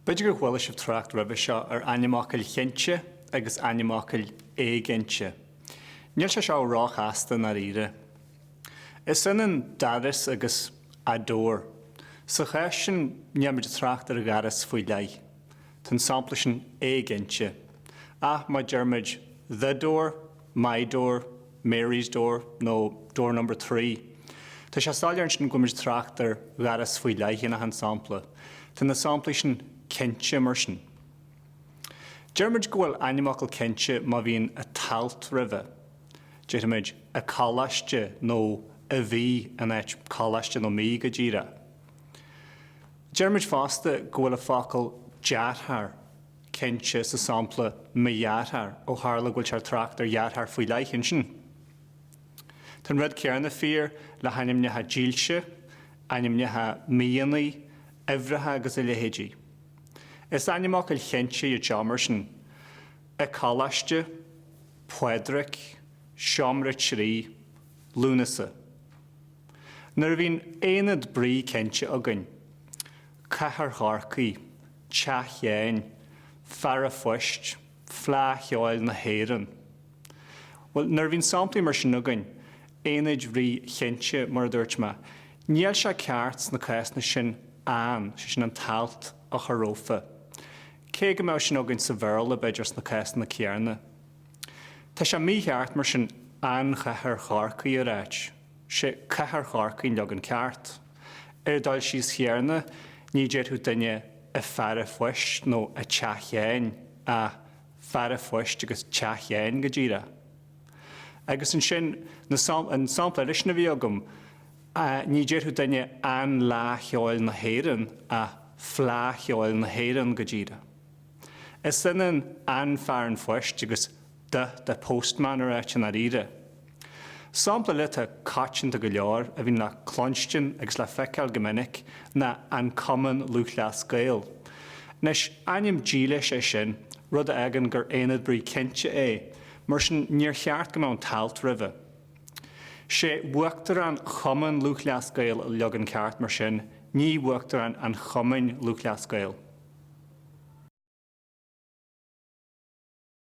B'fhéidir gur chuala sibh trácht roimhe seo ar ainmfhocail chinnte agus ainmfhocail éiginnte. Níl sé seo ró-chasta i ndáiríre. Is ionann doras agus a door. Sa chás sin, níl muid ag trácht ar dhoras faoi leith. Tá an sampla sin éiginnte. Ach má deir muid The Door, My Door, Mary's Door nó Door Number Three. Tá sé soiléir ansin go bhfuil muid ag trácht ar dhoras faoi leith in achan sampla. Tá na samplaí sin cinnte mar sin. Deir muid go bhfuil ainmfhocal cinnte má bhíonn an t-alt roimhe. Déarfaimid, an coláiste nó an mhí in áit coláiste nó mí go díreach. Deir muid fosta go bhfuil an focal deartháir cinnte sa sampla mo dheartháir, ó tharla go bhfuiltear ag trácht ar dheartháir faoi leith, ansin tá an rud céarna fíor le hainmneacha dílse, ainmneacha míonnaí, uimhreacha agus a leithéidí. Is ainmfhocail chinnte iad seo, mar sin, an coláiste, Pádraig, seomra trí, Lúnasa. Nuair a bhíonn aonad brí cinnte againn, cathair Chorcaí, Teach Sheáin, fear a' phoist, Fleadh Cheoil na hÉireann. Bhuel, nuair a bhíonn samplaí mar sin againn, aonaid bhrí chinnte, mar a dúirt mé, níl sé ceart sna cásanna sin an, sé sin an t-alt a chur rófa. Cé go mbeadh sin againn sa Bhéarla, b'fhéidir, sna cásanna céarna. Tá sé mícheart mar sin An Chathair Chorcaí a ráit, sé Cathair Chorcaí an leagan ceart. Ar dhul síos chéarna ní déarfadh duine an fear an phoist nó an teach Sheáin ach fear an phoist agus teach Sheáin go díreach. Agus ansin na sam, an sampla eile sin a bhí agam, ní déarfadh duine An Fhleadh Cheoil na hÉireann ach Fleadh Cheoil na hÉireann go díreach. Is ionann An Fear an Phoist agus the the postman a ráit i ndáiríre. Sampla eile atá coitianta go leor a bhíonn le cluinstin agus le feiceáil go minic ná An Cumann Lúthchleas Gael. Anois, ainm dílis é sin, rud a fhágann gur aonad brí cinnte é, mar sin níor cheart go mbeadh an t-alt roimhe. 'Sé Uachtarán Chumann Lúthchleas Gael an leagan ceart, mar sin, ní Uachtarán an Chumainn Lúthchleas Gael.